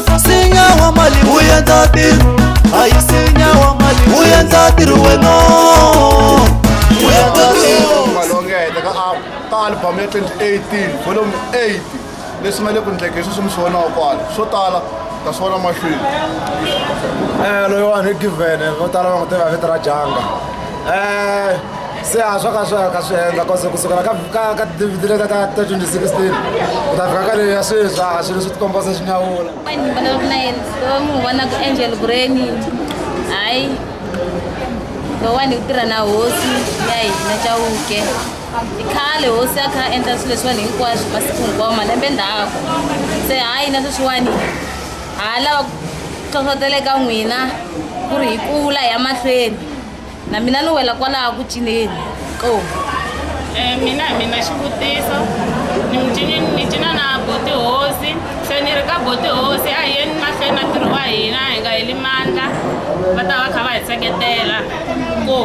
sinya wa mali wu endla ntirho a yi sinya wa mali wu endla ntirho wena wu endla ntirho malongeta ka a- ka album ya 2018 volume 8 leswi nga le ku ndleke sweswi mi swi vonaka kwala swo tala ta swi vona mahlweni Eh, loyiwani i given vo tala va n'wi tiva hi vito ra janga Eh, se a swa ka swi ka swi endla cause kusukela ka ka ka dvd leta ka ta 2016 ku ta fika ka leyi ya sweswi a swilo swi tikomba se swi nyawula ni vona ku na yena va n'wi vona ku angel breni hayi lowani u tirha na hosi ya hina chawuke i khale hosi ya kha endla swilo leswiwani hinkwaswo masiku hinkwawo malembe ndhaku se hayi na sweswiwani ha lava ku hlohloteleka n'wina ku ri hi kula hi ya mahlweni na mina ni wela kwalaha ku cineni qo Eh, mina hi mina xivutiso ni micini ni cina na boti hosi se ni ri ka boti hosi a hi yeni mahlweni na ntirho wa hina hi nga heli mandla va ta va kha va hi seketela ko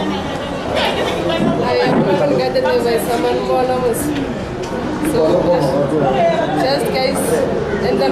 So, just guys, and then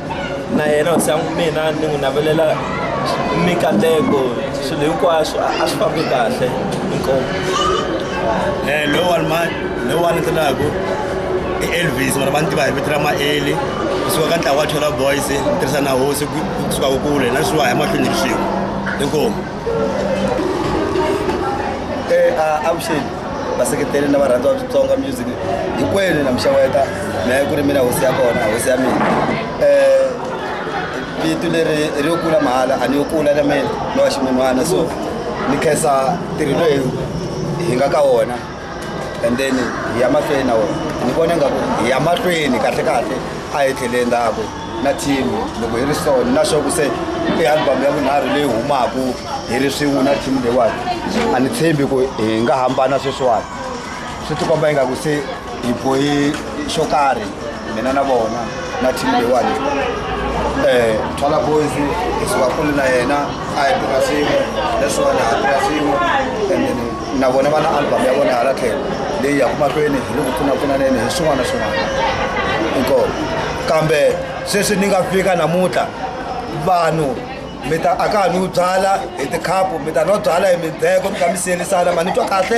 na yena hosi ya n'wi mina ni n'wi navelela mikateko swilo hinkwaswo a swi fambi kahle inkomo um eh, loyi wani ma loyi wani ndzi laku i elvis vana va ni tiva hi vito ra maeli kusuka ka ntlawa wa thola boys tirhisa na hosi kusuka ku kule na swiwa hi mahlweni hi swin'we inkomo eh, avuxeni vaseketeli na varhandzi wa switsonga music hinkwenu na mixaweta na yi ku ri mina hosi ya kona hosi ya mina um vito leri ri yo kula mahala a ni yo kula na mina ni wa ximun'wana so ni khensa ntirho loyi hi nga ka wona and then hi ya mahlweni na wona ni vona ingaku hi ya mahlweni kahle kahle a hi tlheleni ndhaku na team loko hi ri so ni na sure ku se i album ya vunharhu leyi humaka hi ri swin'we na team leyiwani a ni tshembi ku hi nga hambana sweswiwani swi tikomba ingaku se hi bohi xo karhi mina na vona na team leyiwani um twala boys hi suka kule na yena a hi tirha swin'we leswiwani ha tirha swin'we and na vona va na album ya vona hala tlhelo leyi yaku mahlweni hi le ku pfunapfunaneni hi swin'wana na swin'wana inkomo kambe sweswi ni nga fika namuntlha vanhu mi ta a ka ha ni wu byala hi tikhapu mi ta no byala hi mindzheko mi ta mi siyelisana ma ni twa kahle